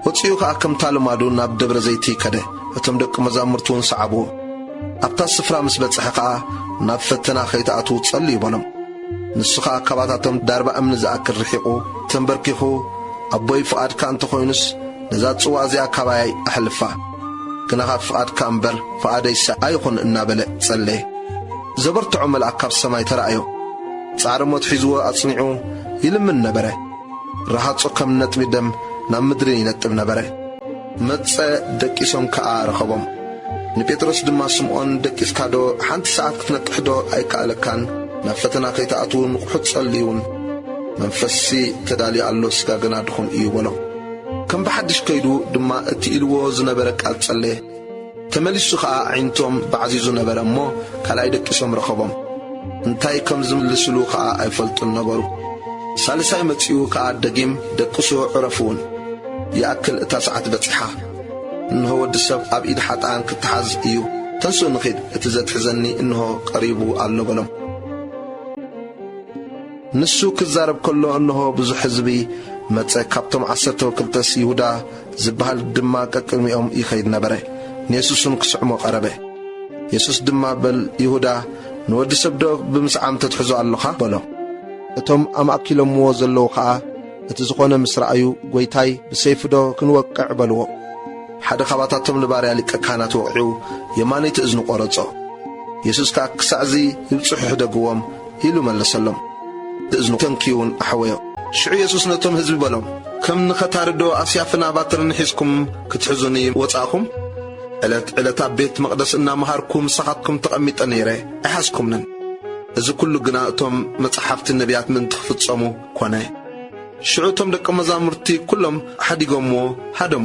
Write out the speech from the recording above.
ወጺኡ ኸኣ ከምታ ልማዱ ናብ ደብረ ዘይቲ ከደ፣ እቶም ደቂ መዛሙርቱውን ሰዓብዎ። ኣብታ ስፍራ ምስ በጽሐ ኸኣ፣ ናብ ፈተና ኸይትኣትዉ ጸልዩ በሎም። ንሱ ኸኣ ካባታቶም ዳርባ እምኒ ዝኣክል ርሒቑ፣ ተምበርኪኹ፣ ኣቦይ ፍቓድካ እንተ ኾይኑስ፣ ነዛ ጽዋእ እዚኣ ካባየይ ኣሕልፋ። ግናኸ ፍቓድካ እምበር፣ ፍቓደይሲ ኣይኹን እናበለ ጸለየ። ዘበርትዖ መልኣክ ካብ ሰማይ ተራእዮ። ጻዕሪ ሞት ሒዝዎ ኣጽኒዑ ይልምን ነበረ። ረሃጹ ከም ነጥቢ ደም ናብ ምድሪ ይነጥብ ነበረ። መጸ፣ ደቂሶም ከኣ ረኸቦም። ንጴጥሮስ ድማ ስምዖን ደቂስካዶ ሓንቲ ሰዓት ክትነቅሕዶ ኣይከኣለካን? ናብ ፈተና ከይትኣትዉ ንቕሑ ጸልዩውን። መንፈስሲ ተዳልዩ ኣሎ ስጋ ግና ድኹም እዩ በሎ። ከም ብሓድሽ ከይዱ ድማ እቲ ኢልዎ ዝነበረ ቃል ጸለየ። ተመሊሱ ኸኣ ኣዒንቶም ባዕዚዙ ነበረ እሞ፣ ካልኣይ ደቂሶም ረኸቦም። እንታይ ከም ዝምልስሉ ኸኣ ኣይፈልጡን ነበሩ። ሳልሳይ መጺኡ ከኣ ደጊም ደቅሱ ዕረፉውን። ይኣክል እታ ሰዓት በጺሓ። እንሆ ወዲ ሰብ ኣብ ኢድ ሓጥኣን ክተሓዝ እዩ። ተንስኡ ንኺድ፣ እቲ ዘትሕዘኒ እንሆ ቀሪቡ ኣሎ በሎም። ንሱ ክዛረብ ከሎ እንሆ ብዙሕ ሕዝቢ መጸ፣ ካብቶም ዓሰርተው ክልተስ ይሁዳ፣ ዚብሃል ድማ ቀቅድሚኦም ይኸይድ ነበረ፣ ንየሱስውን ኪስዕሞ ቀረበ። የሱስ ድማ በል ይሁዳ ንወዲ ሰብዶ ብምስዓም ተትሕዞ ኣሎኻ? በሎ። እቶም ኣማእኪሎምዎ ዘለዉ ኸኣ እቲ ዝኾነ ምስ ረኣዩ ጐይታይ ብሰይፍዶ ክንወቅዕ? በልዎ። ሓደ ኻባታቶም ንባርያ ሊቀ ካህናት ወቒዑ የማነይቲ እዝኑ ቈረጾ። የሱስ ከኣ ክሳዕዚ ይብጽሑ ሕደግዎም፣ ኢሉ መለሰሎም። ብእዝኑ ተንክዩውን ኣሕወዮ። ሽዑ የሱስ ነቶም ህዝቢ በሎም፣ ከም ንኸታሪዶ ኣስያፍን ኣባትርን ሒዝኩም ክትሕዙኒ ወጻእኹም? ዕለት ዕለት ኣብ ቤት መቕደስ እናመሃርኩ ምሳኻትኩም ተቐሚጠ ነይረ፣ ኣይሓዝኩምንን። እዚ ኵሉ ግና እቶም መጻሕፍትን ነብያትን ምእንቲ ኽፍጸሙ ኰነ። ሽዑ እቶም ደቀ መዛሙርቲ ኵሎም ሓዲጎምዎ ሃደሙ።